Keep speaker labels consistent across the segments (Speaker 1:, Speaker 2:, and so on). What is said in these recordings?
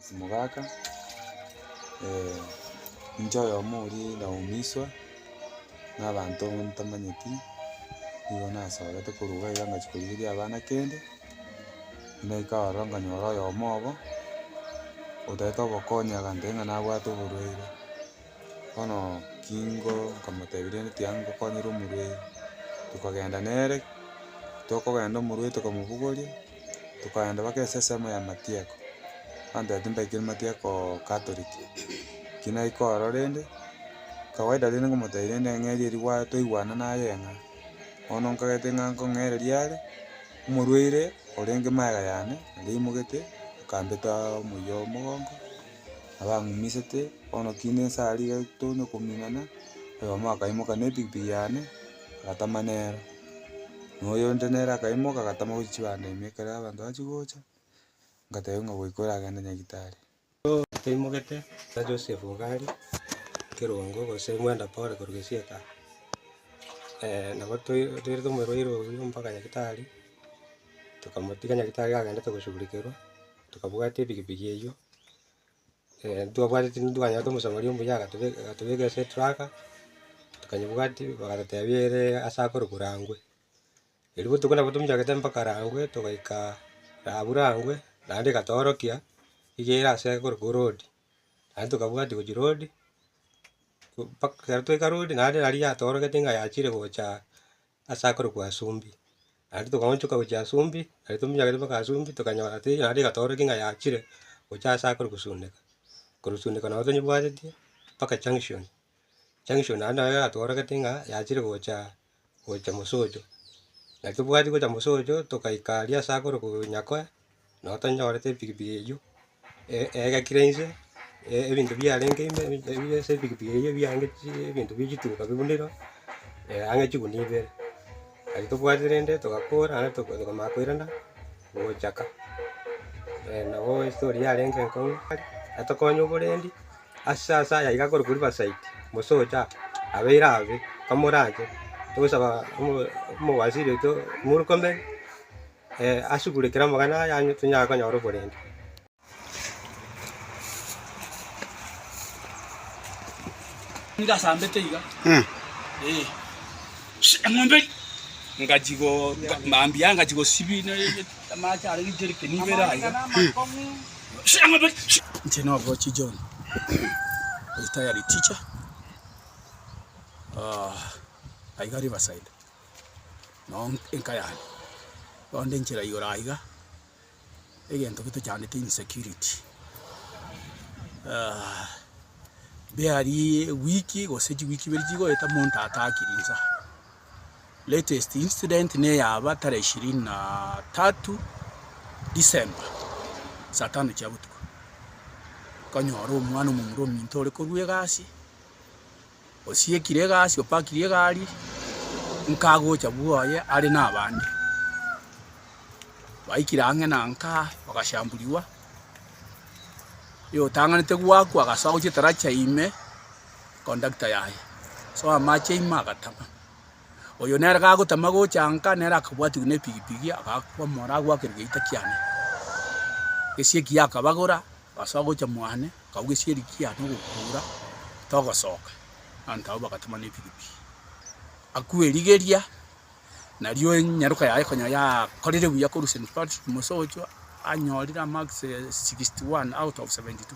Speaker 1: Simogaka, inche oyomo oria naumiswa na abanto ntamanyeti, nigo nasorete korwa iga iga ngachia korigereria abana kende, naika ororo nkanyora oyomo obo, otagete obokonyi agantebia ng'a nabwate oborwaire. Bono kingo nkamotebia rende tiga ngokonyera omorwei, tokagenda nere, tokogenda omorwei tokamobogoria, tokaenda mpaka esesemo ya matiako, abanto ere timbaikire matiakoo catholic, ki naika ororo rende, kawaida rende nkomotebia rende ng'eria erio gwa twaigwana naye ng'a, bono nkagete ng'a nkong'ereria are, omorwaire orenge magega yane, naria aimogete, akambetaa omoyia omogongo. Nabang'umisete, bono tinde nse aria iga tonya kominana, oyomo akaimoka na epikipiki yane, agatama nero, na oyonde nere akaimoka agatama gochia chibando ime ekero abanto bachigocha, ngateba ng'a goika oragende nyagetari. Bono toimogete,
Speaker 2: na Joseph iga aria, Kerongo gose Mwenda Pole korwa Gesieka, nabo toi- toirete omorwaire oyio mpaka nyagetari, tokamotiga nyagetari agendete koshugurikerwa. Tokabwata epikipiki eyio, ntitwabwateti ntitwanyarete omosomari omuya agatobe agatobekera ase etraka, tokanyebwatia bagatotebia ere ase akorokwa Rangwe. Erio botuko nabo tominyorete mpaka Rangwe, togaika rabu Rangwe, naende egatoorokia igere ase akorokwa road, naende tokabwatia gochia road, mpaka ekero twaika road naende nari yatoorogeti ng'a yachire gocha. ase akorokwa Asumbi. Naende togaonchoka gochia Asumbi, naende tominyorekete mpaka Asumbi, tokanyora tei naende egatoorokia ng'a yachire gochia ase akore gosundeka. Korosundeka nabo tonyebwatetie mpaka junction. Junction naende naye yatoorokete ng'a yachire gocha gocha Mosocho. Naki tobwati gocha Mosocho, togaika aria ase akorokwa Nyakoe, Nabo tanyorete epikipiki eywo, egakire inse, ebinto biarenge ime ebire ase epikipiki eywo ebiange chi ebinto bie chituka bibunire ang'e chigunia ibere. Aye tobwate rende togakora naende toka tokamanya koirana gochaka. nabo estori yarenge enkong'u tari atokonya oborendi ase ase aya iga akorokwa Riverside, mosocha abeire abe, tomoranche, togosaba omo omowaziri oito Murkomen. asugure kera amagana aye ang'e tonyare
Speaker 3: konyora oborende. noo enka yane, bono nde nchera igoro aiga, egento gete chandete insecurity mbearie ewiki gose chiwiki ibere chigoeta monto atakiri insa. Latest incident ne eyaba tarehe ishirini na tatu December, saa tano chia botuko, nkonyora omwana omomura ominto ore korwa egasi. osiekire egasi, opakirie egari, nkagocha bwoye are na abande. Baikire ang'e na nka bagashamburigwa, oyotang'anete goakwa agasoa gochia etarachi aye ime, kondakta yaye, soa amache ime agatama. Oyo nere gagotama gocha nka nere akabwatigwa na epigipigi agakwamora agoakerwa egeita kiane. Gesieki yakabagora Ase ogocha mwane nkauga esieri kia nogokuura, togosoka. Abanto abwo bagatoma nebirubi aku erigeria, nario enyaroka yaye konya yakorire buya korwa St. Patrick Mosochwa anyorire amarks sixty one out of seventy two.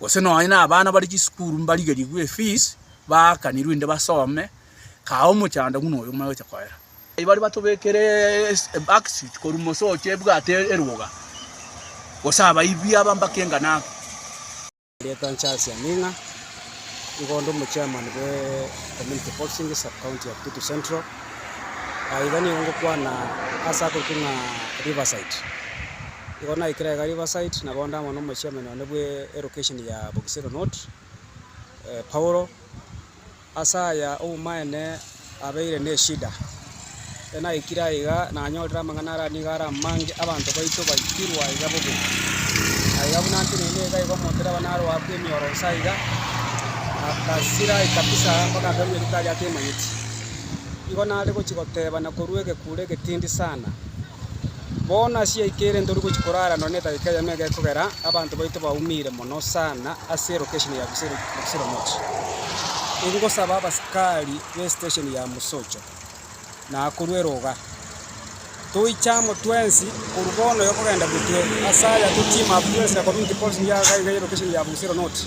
Speaker 3: gose nonye na abana bare chisukuru mbarigerigwe efees, baakanirwe inde basome, kaa omochando buna oyo omanye gocha koera. Aye baria batobekire ebackseat korwa mosocha ebwate eruga, gose abaibi aba mpaka engano aba. Rietwa
Speaker 4: Charles Aming'a, nigo onde omochairman bwe Community Policing Sub-county ya Kitutu Central. Iga nigo ngokwana ase akorokigwa ng'a Riverside. Igo naikire iga Riverside, na bonde amo nomochiamenwa one bw'erokesheni ya Bokisero North. Paulo, Ase aya obomaene abeire neshida. Ekero naikire aiga nanyorire amang'ana aria nigo are amange, abanto baito baikirwe aiga bobe. Naiga buna nteneine iga igo omonto riaba naroakwa emioro inse aiga, akasirai kabisa mpaka akerwa eritari atemanyeti. Igo nare gochia gotebana korwa egekuro egetindi sana. Bono ase yaito ere ntori gochia korara nonye nedageka eyemo iga ekogera abanto baito baumire mono sana ase erokesheni ya Busiromochi. Ingosaba abasikari b'esitesheni ya Musocho na akorwa eroga, toiche amo twensi korwa bono iga kogenda gotwe ase aya totiima abwo twensi na community policing ya iga iga y'erokesheni ya Busironochi.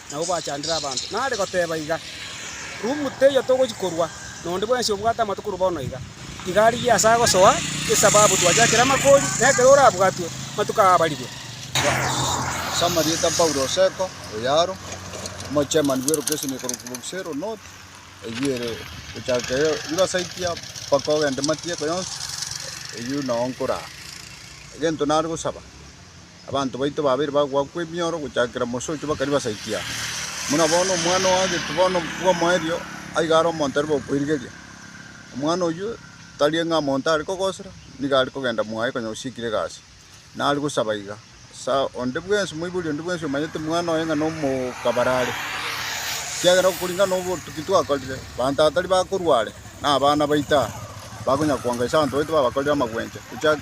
Speaker 4: nabwo bwachandire abanto. Nare goteba iga, Rumu teiyo togochia korwa, na onde bwensi obwate amato korwa bono iga, iga arigie ase agosoa, esababu twachakire amakori, na ekero orabwatwe, amatuko aa abarirwe. As'ama
Speaker 5: rieta Paulo Oseko, Oyaro, omochairman bw'elocation ekorokwa Bogusero North, eyio ere gochaka ere Riverside aa mpaka ogende Matiako yonsi, eyio nao nkoraa. Egento nare gosaba. Abanto baito babeire bagoakwa emioro gochakera mosocho bakari basaikia, buna bono omwana o Hagetu bono bw'omoerio aiga are omonto arebe okoirigeria. Omwana oyio tarie ng'a monto are kogosera, nigo are kogenda mwaye konya gosiikire egasi, nare gosaba iga. Ase onde bwensi, omoibori onde bwensi omanyete omwana oye ng'a nomokabar are, ekiagera okoring'ana nobotuki twakorire, abanto aba tari bakorwa are, na abana baito aa, bakonya koanga ase abanto baito babakorire amagwenyche, gochakera.